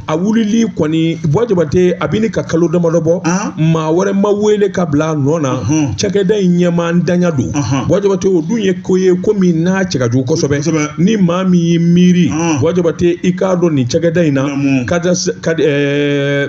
a wulili kɔni Bua Jabate a bɛ ka kalo damadɔ bɔ maa wɛrɛ ma wele ka bila a nɔ na cakɛda in ɲɛmaantanya don Bua Jabate o dun ye ko ye ko min n'a cɛ ka jugu kosɛbɛ ni maa min y'i miiri Bua Jabate i k'a dɔn nin cakɛda in na mun ka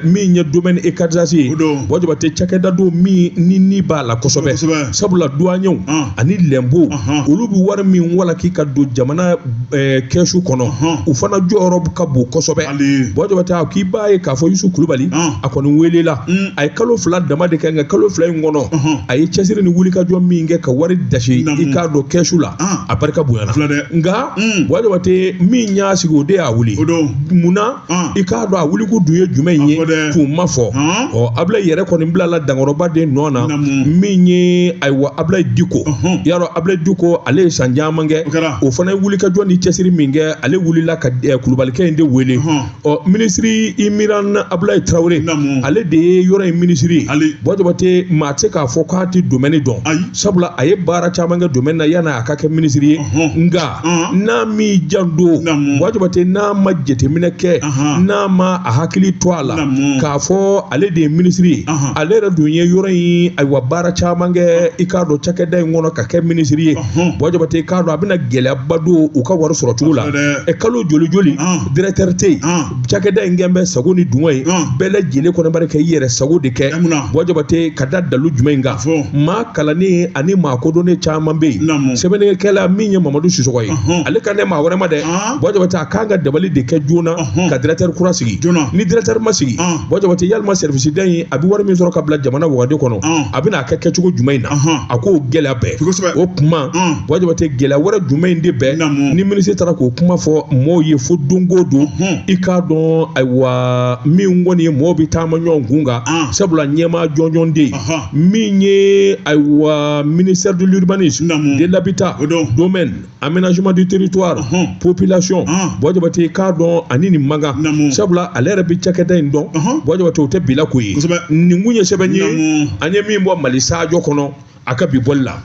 min ye domaine et cadastre ye o don Bua Jabate cakɛda don min ni ni b'a la kosɛbɛ kosɛbɛ sabula duwanyew Ɔn. ani lɛnpo Ɔhɔn. olu bɛ wari min walaki ka don jamana eh, kɛsu kɔnɔ Ɔhɔn. u fana jɔyɔrɔ ka bon kosɛbɛ hali Bua Jabate k'i b'a ye k'a fɔ Yusufu Kulubali Ɔn. a kɔni welela Mm. a ye kalo fila dama de kɛ nka kalo fila in kɔnɔ Ɔhɔn. a ye cɛsiri ni wulikajɔ min kɛ ka wari dasi Namu. i k'a dɔn kɛsu la Ɔn. a barika bonyana Fila dɛ. nka Mm. Bua Jabate min y'a sigi o de y'a wuli o don munna mm. i k'a dɔn a wulikun dun ye jumɛn in ye kun ma fɔ mm. ɔ Abilayi yɛrɛ kɔni bilala dankɔrɔba de nɔ na min ye ayiwa Abilayi Diko mm-hmm. y'a dɔn Abilayi Diko ale ye san caman kɛ o fana ye wulikajɔ ni cɛsiri min kɛ ale wulila ka eh, Kulubalikɛ in de wele mm-hmm. ɔ minisiri Imiran Abulayi Tarawele ale de ye yɔrɔ in minisiri ye Bua Jabate maa tɛ se k'a fɔ k'a tɛ domaine dɔn sabula a ye baara caman kɛ domaine na yanni a ka kɛ minisiri ye nka n'a m'i janto Bua Jabate n'a ma jateminɛ kɛ n'a ma a hakili to a la k'a fɔ ale de ye minisiri ye ale yɛrɛ dun ye yɔrɔ in ayiwa baara caman kɛ i k'a dɔn cakɛda in kɔnɔ ka kɛ minisiri ye Bua Jabate k'a dɔn a bɛna gɛlɛyaba don u ka wari sɔrɔ cogo la ɛ kalo joli joli directeur tɛ yen cakɛda in kɛn bɛ sago ni dungɔ ye bɛɛ lajɛlen kɔnɔbari kɛ i yɛrɛ sago de kɛ Bua Jabate ka da dalu jumɛn in kan maa kalannen ani maa kodɔnnen caman bɛ yen sɛbɛnnikɛla min ye Mamadu Sisɔgɔ ye ale kan tɛ maa wɛrɛ ma dɛ Bua Jabate a k'an ka dabali de kɛ joona ka directeur kura sigi ni directeur ma sigi Bua Jabate yalima sɛriwisida in a bɛ wari min sɔrɔ ka bila jamana wagande kɔnɔ a bɛna ka kɛ cogo jumɛn in na a k'o gɛlɛya bɛɛ o kuma Bua Jabate gɛlɛya wɛrɛ jumɛn in de bɛ ni minisiri taara k'o kuma fɔ mɔɔw ye fo don o don i k'a dɔn ayiwa min kɔni ye mɔɔw bɛ taama ɲɔgɔn kun kan sabula ɲɛmaa jɔnjɔn tɛ yen min ye ayiwa ministère de l'urbanisme de l'habitat domaine aménagement du territoire Ɔhɔn. population Ɔn. buwa jabate k'a dɔn ani nin man kan Naamu. sabula ale yɛrɛ bɛ cakɛda in dɔn Ɔhɔn. buwa jabate o tɛ bila ko ye Kosɛbɛ. nin tun ye sɛbɛn ye Naamu. an ye min bɔ mali sajo kɔnɔ a ka bi bɔli la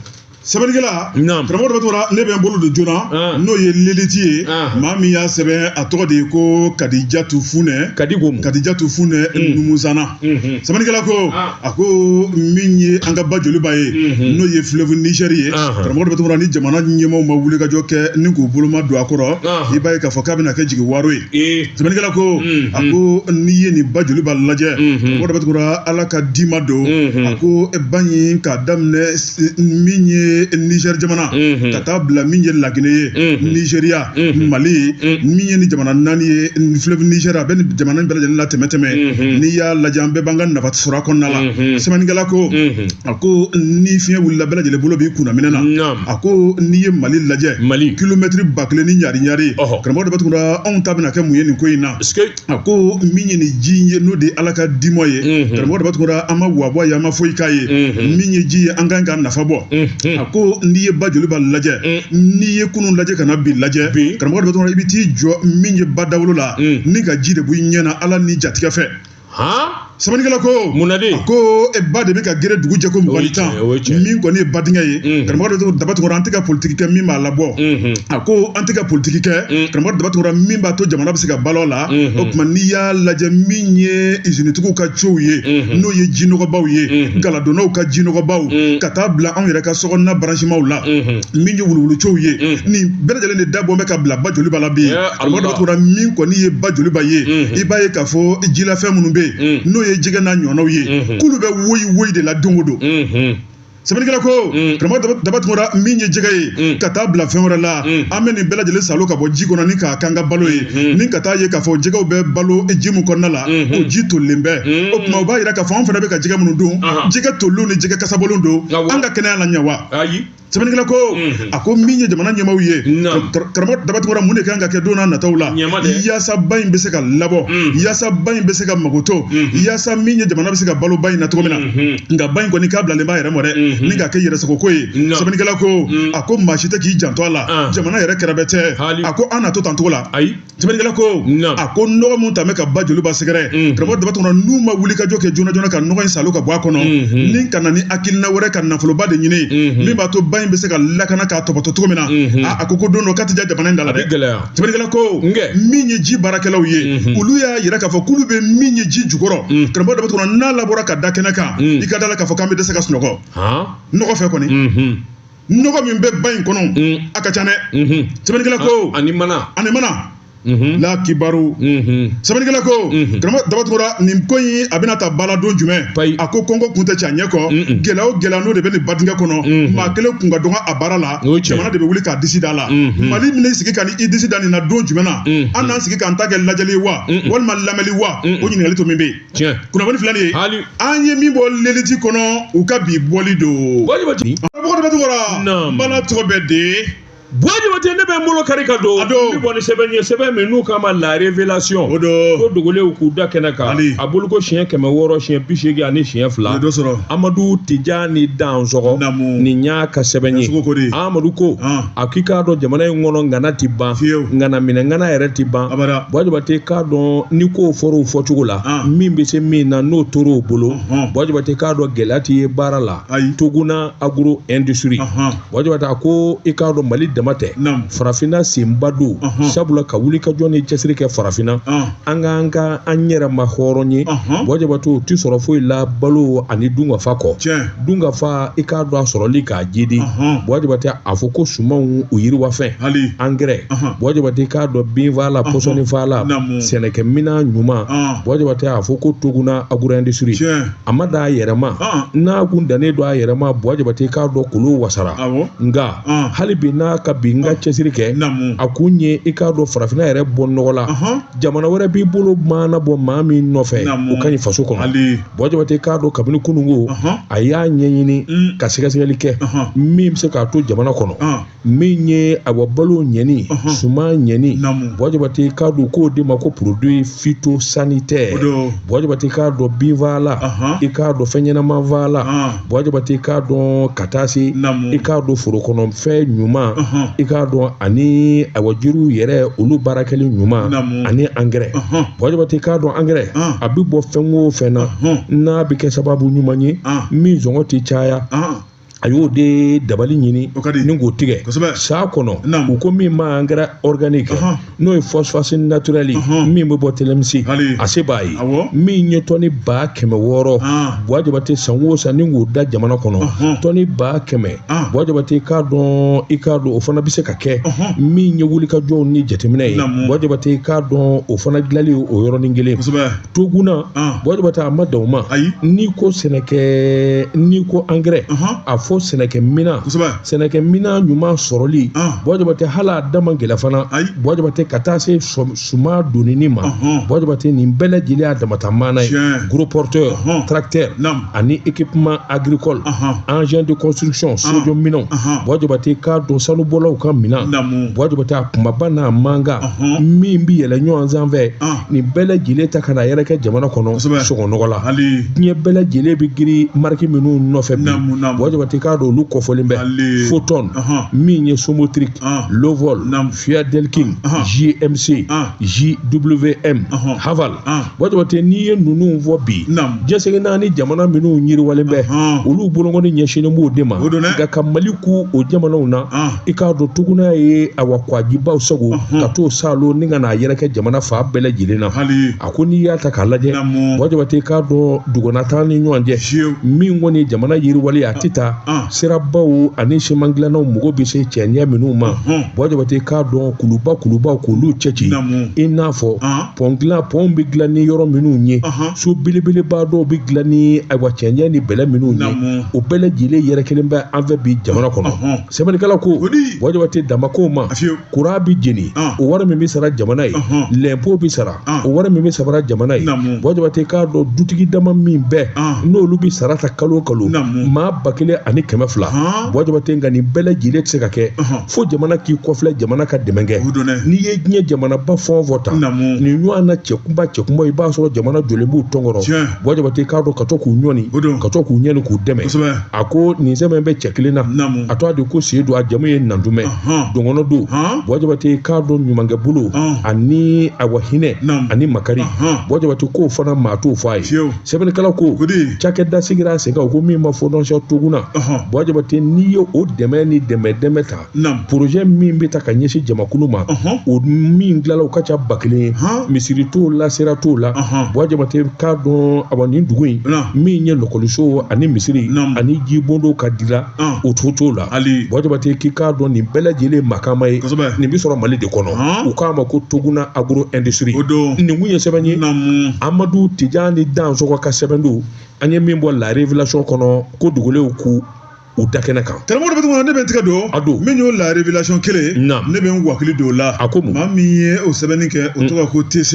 sɛbɛnnikɛla Naam. karamɔgɔ daba tunkara ne bɛ n bolo don joona An. n'o ye l'élite ye An. maa min y'a sɛbɛn a tɔgɔ de ye ko kadijatu funɛ ka di ko mu kadijatu funɛ numusana sɛbɛnnikɛla ko a ko min ye an ka ba joliba ye n'o ye fleuve niger ye karamɔgɔ daba tunkara ni jamana ɲɛmaaw ma wulikajɔ kɛ ni k'u boloma don a kɔrɔ i b'a ye k'a fɔ k'a bɛna kɛ jigiwaaro ye sɛbɛnnikɛla ko a ko n'i ye nin ba joliba lajɛ karamɔgɔ daba tunkara ala ka dima don a ko ba in k'a daminɛ min ye niger jamana ka taa bila min ye laginɛ ye nizeriya mali min ye nin jamana naani ye fleuve niger a bɛ nin jamana bɛɛ lajɛlen la tɛmɛ tɛmɛ n'i y'a lajɛ an bɛɛ b'an ka nafa sɔrɔ a kɔnɔna la sɛbɛnnikɛla ko a ko ni fiɲɛ wulila bɛɛ lajɛlen bolo b'i kunna minɛn na a ko n'i ye mali lajɛ kilomɛtiri ba kelen ni ɲari ɲari karamɔgɔ daba tunkara anw ta bɛna kɛ mun ye nin ko in na a ko min ye nin ji ye n'o de ye ala ka dima ye mhm. karamɔgɔ daba tunkara an ma wari bɔ a ye an ma foyi k'a ye mhm. min ye ji ye an k'an ka nafa bɔ mhm. a ko n'i ye ba joliba lajɛ n'i ye kunun lajɛ ka na bi lajɛ karamɔgɔ daba tunkara i bɛ t'i jɔ min ye ba dawolo la ni ka ji de b'i ɲɛ na ala ni jatigɛ fɛ sɛbɛnnikɛla ko munna de ko e ba de bɛ ka geren dugu jɛko mɔgɔ ni tan min kɔni ye ba dingɛ ye karamɔgɔ daba tunkara an tɛ ka politiki kɛ min b'a labɔ a ko an tɛ ka politiki kɛ karamɔgɔ daba tunkara min b'a to jamana bɛ se ka balo la o tuma n'i y'a lajɛ min ye izinitigiw ka ciw ye n'o ye jinɔgɔbaw ye galadonnaw ka jinɔgɔbaw ka taa bila anw yɛrɛ ka sokɔnɔna baransimaw la min ye wuluwulucow ye nin bɛɛ lajɛlen de da bɔ bɛ ka bila ba joliba la bi karamɔgɔ daba tunkara min kɔni ye ba joliba ye i b'a ye k'a fɔ jilafɛn minnu bɛ yen n'o ye jɛgɛ n'a ɲɔgɔnnaw ye k'olu bɛ woyi woyi de la don o don sɛbɛnnikɛla ko karamɔgɔ daba tunkara min ye jɛgɛ ye ka taa bila fɛn wɛrɛ la an bɛ nin bɛɛ lajɛlen salo ka bɔ ji kɔnɔ ni k'a k'an ka balo ye ni ka taa ye k'a fɔ jɛgɛw bɛ balo ji min kɔnɔna la o ji tolilen bɛ o tuma o b'a yira k'a fɔ an fana bɛ ka jɛgɛ minnu dun Ahan. jɛgɛ tolilenw ni jɛgɛ kasabɔlenw don Awɔ. an ka kɛnɛya la ɲɛ wa ayi sɛbɛnnikɛla ko a ko min ye jamana ɲɛmaaw ye karamɔgɔ daba tunkara mun de kan ka kɛ don na nataw la yaasa ba in bɛ se ka labɔ yaasa ba in bɛ se ka makoto yaasa min ye jamana bɛ se ka balo ba in na cogo min na nka ba in kɔni k'a bilalen b'a yɛrɛ ma dɛ ni ka kɛ yɛrɛsago ko ye sɛbɛnnikɛla ko a ko maa si tɛ k'i janto a la jamana yɛrɛ kɛrɛbɛtɛ a ko an n'a to tan cogo la ayi sɛbɛnnikɛla ko a ko nɔgɔ min tun bɛ ka ba joliba sɛgɛrɛ mm. karamɔgɔ daba tunkara n'u ma wulikajɔ kɛ joona joona ka nɔgɔ in salo ka bɔ a kɔnɔ mm-hmm. ni ka na ni hakilina wɛrɛ ka nafoloba de ɲini mm-hmm. min b'a to ba in bɛ se ka lakana k'a topoto cogo min na mm-hmm. a ko ko don dɔ k'a tɛ ja jamana in da la dɛ sɛbɛnnikɛla ko min ye ji baarakɛlaw ye olu y'a yira k'a fɔ k'olu bɛ min ye ji jukɔrɔ mm. karamɔgɔ daba tunkara n'a labɔra ka da kɛnɛ kan mm. i ka d'a la k'a fɔ k'an bɛ dɛsɛ ka sunɔgɔ nɔgɔ fɛ kɔni nɔgɔ min bɛ ba in kɔnɔ mm. a ka ca dɛ mm-hmm. sɛbɛnnikɛla ko ah, ani mana ani mana mm-hmm. la kibaru mm-hmm. sɛbɛnnikɛla ko karamɔgɔ daba tunkara nin ko in a bɛna dabila don jumɛn a ko kɔngɔ kun tɛ cɛ a ɲɛ kɔ gɛlɛya o gɛlɛya n'o de bɛ nin ba dingɛ kɔnɔ maa kelen kun ka dɔgɔ a baara la jamana de bɛ wuli k'a disi da la mali min sigi ka ni i disi da nin na don jumɛn na an n'an sigi k'an ta kɛ lajɛli wa walima lamɛnli wa o ɲininkali to min bɛ yen kunnafoni filɛ nin ye hali an ye min bɔ leliti kɔnɔ u ka bi bɔli don karamɔgɔ daba tunkara n bala tɔgɔ bɛ de buwa jabate ne bɛ n bolo kari ka don n bɔ ni sɛbɛn ye sɛbɛn min n'u k'a ma la révélation o don ko dogolenw k'u da kɛnɛ kan a bɔli ko siɲɛ kɛmɛ wɔɔrɔ siɲɛ bi seegin ani siɲɛ fila o dɔ sɔrɔ Amadu Tijani Dansɔgɔ nin y'a ka sɛbɛn ye Amadu ko a k'i k'a dɔn jamana in kɔnɔ ŋana ti ban ŋana minɛ ŋana yɛrɛ ti ban buwa jabate k'a dɔn ni kow fɔr'o fɔcogo la ah. min be se min na n'o tor'o bolo buwa jabate k'a dɔn gwɛlɛya ti ye baara la toguna agro industri buwa jabate a ko i k'a dɔn mali dama tɛ farafina senba don sabula ka wuli ka jɔ ni cɛsiri kɛ farafina ah. an k'an ka an yɛrɛ ma hɔrɔnya buwa jabate o ti sɔrɔ foyi la balo ani dunkafa kɔ dunkafa i k'a dɔn a sɔrɔli k'a jidi buwa jabate a fɔ ko sumanw u yiriwafɛn angɛrɛ buwa jabate k'a dɔn binfala pɔsɔni fala sɛnɛkɛmina ɲuman buwa jabate a fɔ ko toguna agro industri a ma dan a yɛrɛma n'a kun dannen don a yɛrɛma buwa jabate k'a dɔn kulu wasara nka hali bi n'a ka bi n ka cɛsiri kɛ a kun ye i k'a dɔn farafinna yɛrɛ bɔ nɔgɔ la jamana wɛrɛ b'i bolo maana bɔ maa min nɔfɛ o ka ɲi faso kɔnɔ buwa jabate k'a dɔn kabini kununko a y'a ɲɛɲini mm. ka sɛgɛsɛgɛli kɛ min bɛ se k'a to jamana kɔnɔ min ye awa balo ɲɛni suman ɲɛni buwa jabate k'a dɔn k'o de ma ko produit phytosanitaire buwa jabate k'a dɔn binfala i k'a dɔn fɛnɲɛnama fala buwa jabate i k'a dɔn ka taa se i k'a dɔn forokɔnɔfɛn ɲuman i k'a dɔn ani awa jiriw yɛrɛ olu baarakɛli ɲuman ani angɛrɛ buwa jabate i k'a dɔn angɛrɛ a bɛ bɔ fɛn o fɛn na n'a bɛ kɛ sababu ɲuman ye min sɔngɔ tɛ caya a y'o de dabali ɲini ni k'o tigɛ san kɔnɔ u ko min ma angɛrɛ organique n'o ye phosphate naturel min bɛ bɔ tilemsi a se b'a ye min ye tɔni ba kɛmɛ wɔɔrɔ buwa jabate san o san ni k'o da jamana kɔnɔ tɔni ba kɛmɛ buwa jabate i k'a dɔn i k'a dɔn o fana bɛ se ka kɛ min ye wulikajɔw ni jateminɛ ye buwa jabate i k'a dɔn o fana dilanli o yɔrɔnin kelen toguna buwa jabate a ma dan o ma ayi n'i ko sɛnɛkɛ n'i ko angɛrɛ a fɔ sɛnɛkɛ minan kosɛbɛ sɛnɛkɛ minan ɲuman sɔrɔli buwa jabate hali a da man gɛlɛ fana ayi buwa jabate ka taa se suman donini ma buwa jabate nin bɛɛ lajɛlen y'a damata maana ye gros porteur tracteur ani équipement agricole engin de construction sojɔ minɛnw buwa jabate k'a dɔn sanubɔlaw ka minan buwa jabate a kumaba n'a mankan min bɛ yɛlɛ ɲɔgɔn sanfɛ nin bɛɛ lajɛlen ta ka n'a yɛrɛkɛ jamana kɔnɔ sɔngɔ nɔgɔ la diɲɛ bɛɛ lajɛlen bɛ giri mariki minnu nɔfɛ bi buwa jabate k'a dɔn olu kɔfɔlen bɛ foton min ye sinotruk lovol fieldking jmc gwm haval buwa jabate n'i ye ninnu fɔ bi diɲɛ seleke naani jamana minnu yiriwalen bɛ olu bolonkɔni ɲɛsinnen b'o de ma nka ka mali kun o jamanaw na i k'a dɔn toguna ye awa kɔgɔjibaw sagon ka t'o salo ni ka n'a yɛrɛkɛ jamana fan bɛɛ lajɛlen na a ko n'i y'a ta k'a lajɛ buwa jabate k'a dɔn duguna taa ni ɲɔgɔn cɛ min kɔni jamana yiriwali a tɛ taa sirabaw ani siman dilannaw mɔgɔ bɛ se cɛɲɛ minnu ma buwa jabate k'a dɔn kuluba kulubaw k'olu cɛci i n'a fɔ pɔn bɛ dilan ni yɔrɔ minnu ye so belebeleba dɔw bɛ dilan ni ayiwa cɛɲɛ ni bɛlɛ minnu ye o bɛɛ lajɛlen yɛrɛkɛlen bɛ an fɛ bi jamana kɔnɔ sɛbɛnnikɛla ko buwa jabate dama ko ma kuran bɛ jeni o wari min bɛ sara jamana ye lɛnpo bɛ sara o wari min bɛ sara jamana ye buwa jabate k'a dɔn dutigi dama min bɛ yen olu bɛ sara ta kalo kalo maa ba kelen ani kɛmɛ fila buwa jabate nka nin bɛɛ lajɛlen tɛ se ka kɛ fo jamana k'i kɔfilɛ jamana ka dɛmɛ kɛ n'i ye diɲɛ jamanaba fɛn o fɛn ta nin ɲɔgɔnna cɛkunba cɛkunba i b'a sɔrɔ jamana jɔlen b'u tɔnkɔrɔ buwa jabate k'a dɔn ka to k'u ɲɔni O don. ka to k'u ɲɔni k'u dɛmɛ Kosɛbɛ. a ko nin sɛmɛ bɛ cɛ kelen na Naamu. a tɔgɔ de ko sedu a jamu ye nantumɛ Ɔhɔn. dɔgɔnɔ don Ɔhɔn. buwa jabate k'a dɔn ɲumankɛ bolo Ɔn. ani awa hinɛ Naamu. ani makari Ɔhɔn. buwa jabate k'o fana maa t'o fɔ a ye Fiyewu. sɛbɛnnikɛla ko Kodi. cakɛda sigira a sen kan o ko min ma fondation toguna Ɔhɔn. buwa jabate n'i ye o dɛmɛ ni dɛmɛ dɛmɛ ta porozɛ min bɛ ta ka ɲɛsin jamakulu ma o min dilala u ka ca ba kelen ye misiri t'o la sira t'o la buwa jabate k'a dɔn a nin dugu in min ye lakɔliso ani misiri ani jibondon ka dila o tu t'o la hali buwa jabate k'i k'a dɔn nin bɛɛ lajɛlen makama ye nin bɛ sɔrɔ mali de kɔnɔ u k'a ma ko toguna agro industrie nin tun ye sɛbɛn ye amadu tijani dansoko ka sɛbɛn don an ye min bɔ la révélation kɔnɔ ko dugulenw ko u da kɛnɛ kan karamɔgɔ Daba Tunkara ne bɛ n tigɛ don a don min y'o la révélation kelen na ne bɛ n wakili don o la a ko mun maa min ye o sɛbɛnni kɛ o tɔgɔ ko TC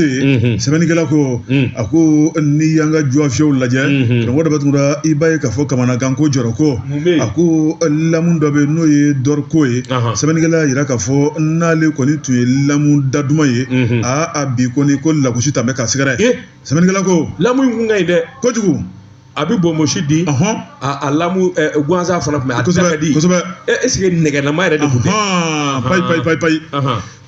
sɛbɛnnikɛla ko a ko n'i y'an ka jɔfiyɛw lajɛ karamɔgɔ Daba Tunkara i b'a ye k'a fɔ kamanagan ko jɔrɔ ko a ko lamu dɔ bɛ yen n'o ye dɔriko ye sɛbɛnnikɛla y'a jira k'a fɔ n'ale kɔni tun ye lamu daduman ye a a bi kɔni ko lagosi tun bɛ k'a sɛgɛrɛ sɛbɛnnikɛla ko lamu in kun ka ɲi dɛ kojugu a bɛ bonbonsi di a lamu gansan fana tun bɛ a tɛ ka di kosɛbɛ est-ce que nɛgɛlama yɛrɛ de tun tɛ payi payi payi payi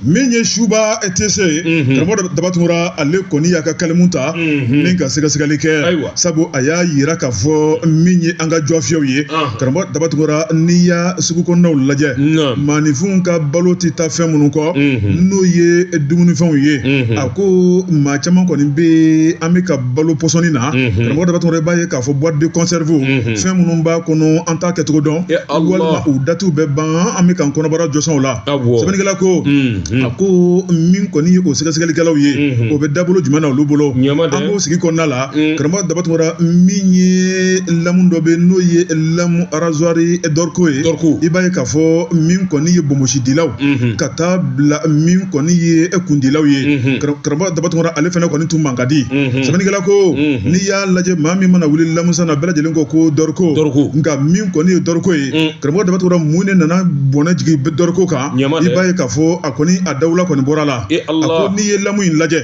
min ye suba TC ye karamɔgɔ Daba Tunkara ale kɔni y'a ka kalimu ta ni ka sɛgɛsɛgɛli kɛ ayiwa sabu a y'a jira k'a fɔ min ye an ka jɔfiyɛw ye karamɔgɔ Daba Tunkara n'i y'a sugu kɔnɔnaw lajɛ maaninfinw ka balo tɛ taa fɛn minnu kɔ n'o ye dumunifɛnw ye a ko maa caman kɔni bɛ an bɛ ka balo pɔsɔni na karamɔgɔ Daba Tunkara i b'a ye k'a fɔ boîte de conserve fɛn minnu b'a kɔnɔ an t'a kɛcogo dɔn walima u datiw bɛ ban an bɛ k'an kɔnɔbara jo sɔn o la sɛbɛnnikɛla ko a ko min kɔni ye o sɛgɛsɛgɛlikɛlaw ye o bɛ dabolo jumɛn na olu bolo an b'o sigi kɔnɔna la karamɔgɔ Daba Tunkara min ye lamu dɔ bɛ n'o ye lamu arazwari dɔriko ye i b'a ye k'a fɔ min kɔni ye bonbonsidilaw ka taa bila min kɔni ye e kundilaw ye karamɔgɔ Daba Tunkara ale fana kɔni tun ma ka di sɛbɛnnikɛla ko n'i y'a lajɛ maa min mana wuli lamusan na bɛɛ lajɛlen ko ko dɔriko dɔriko nka min kɔni ye dɔriko ye karamɔgɔ Daba Tunkara mun de nana bɔnɛ jigin dɔriko kan i b'a ye k'a fɔ a kɔni a dawula kɔni bɔra a la a ko n'i ye lamu in lajɛ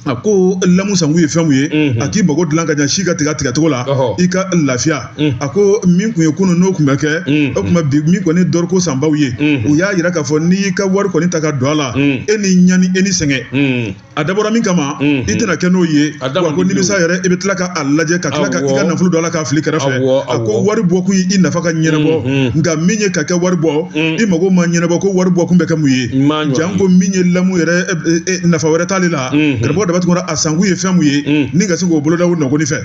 a ko lamu sankun ye fɛn min ye a k'i mago dilan ka ɲɛ si ka tigɛ tigɛcogo la i ka lafiya a ko min tun ye kunun n'o tun bɛ kɛ o tuma bi min kɔni ye dɔriko sanbaw ye u y'a jira k'a fɔ n'i y'i ka wari kɔni ta k'a don a la e ni ɲani e ni sɛgɛn a dabɔra min kama i tɛna kɛ n'o ye a ko nimisa yɛrɛ i bɛ tila ka a lajɛ ka tila ka i ka nafolo don a la k'a fili kɛrɛfɛ a ko wari bɔ kun ye i nafa ka ɲɛnabɔ nka min ye ka kɛ wari bɔ i mago ma ɲɛnabɔ ko wari bɔ kun bɛ kɛ mun ye janko min ye lamu yɛrɛ nafa wɛrɛ t'ale la karamɔgɔ Daba Tunkara a sankun ye fɛn min ye ni ka se k'o boloda o nɔgɔni fɛ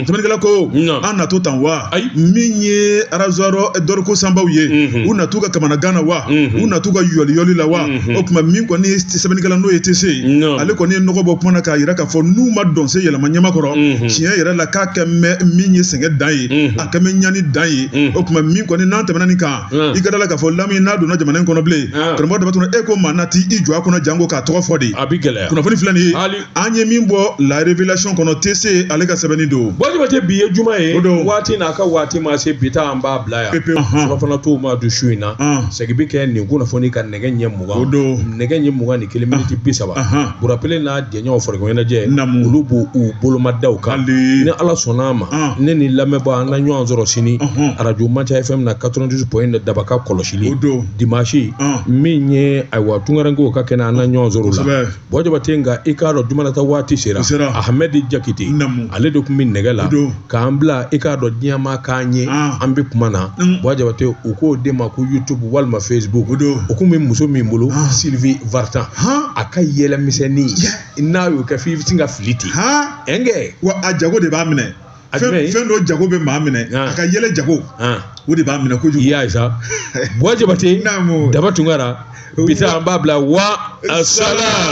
sɛbɛnnikɛla ko an na to tan wa min ye arazwari dɔriko sanbaw ye u na t'u ka kamanagan na wa u na t'u ka yɔliyɔli la wa Hmm. o tuma min kɔni ye sɛbɛnnikɛla n'o ye TC ye ale kɔni ye nɔgɔ bɔ kuma na k'a jira k'a fɔ n'u ma dɔnsen yɛlɛma jama kɔrɔ hmm. tiɲɛ yɛrɛ la k'a kɛ mɛ min ye sɛgɛn dan ye hmm. a kɛ mɛ ɲani dan ye o tuma min kɔni n'an tɛmɛna nin kan i ka da a la k'a fɔ lamu n'a donna jamana in kɔnɔ bilen karamɔgɔ Daba Tunkara e ko maa na t'i jɔ a kunna janko k'a tɔgɔ fɔ de a bɛ gɛlɛya kunnafoni filɛ nin ye an ye min bɔ la révélation kɔnɔ TC ale ka sɛbɛnni don buwa jabate bi ye juma ye waati n'a ka waati ma se bi ta an b'a bila yan pepe surafana t'o ma don su in na segin bɛ kɛ nin kunnafoni kan nɛgɛ ɲɛ mugan o don nɛgɛ ɲɛ mugan ni kelen miniti bi saba bura pele n'a jɛɲɔgɔnw farikolo ɲɛnajɛ olu b'u bolomadaw kan ni ala sɔnna a ma ne ni lamɛnbaa an ka ɲɔgɔn sɔrɔ sini arajo manca fm na 92 point 1 daba ka kɔlɔsili o don dimanche min ye ayiwa tunkarankew ka kɛnɛ an ka ɲɔgɔn sɔrɔ o la Buwa Jabate nka i k'a dɔn juma na ta waati sera, o sera, Ahmɛdi Jakite, naamu, ale de tun bɛ nɛgɛ la, o don, k'an bila i k'a dɔn diɲɛ maa k'an ye, an, an bɛ kuma na, un, Buwa Jabate u k'o de ma ko YouTube walima Facebook, o don, o tun bɛ muso min bolo, an, Sylvie Vartan, han, a ka yɛlɛ misɛnnin, tiɲɛ, n'a y'o kɛ f'i bɛ sin ka fili ten, han, ɛnkɛ, wa a jago de b'a minɛ, a jumɛn, fɛn dɔ jago bɛ maa minɛ, an, a ka yɛlɛ jago, an, o de b'a minɛ kojugu, i y'a ye sa, Buwa Jabate, naamu, Daba Tunkara, bi ta an b'a bila wa salam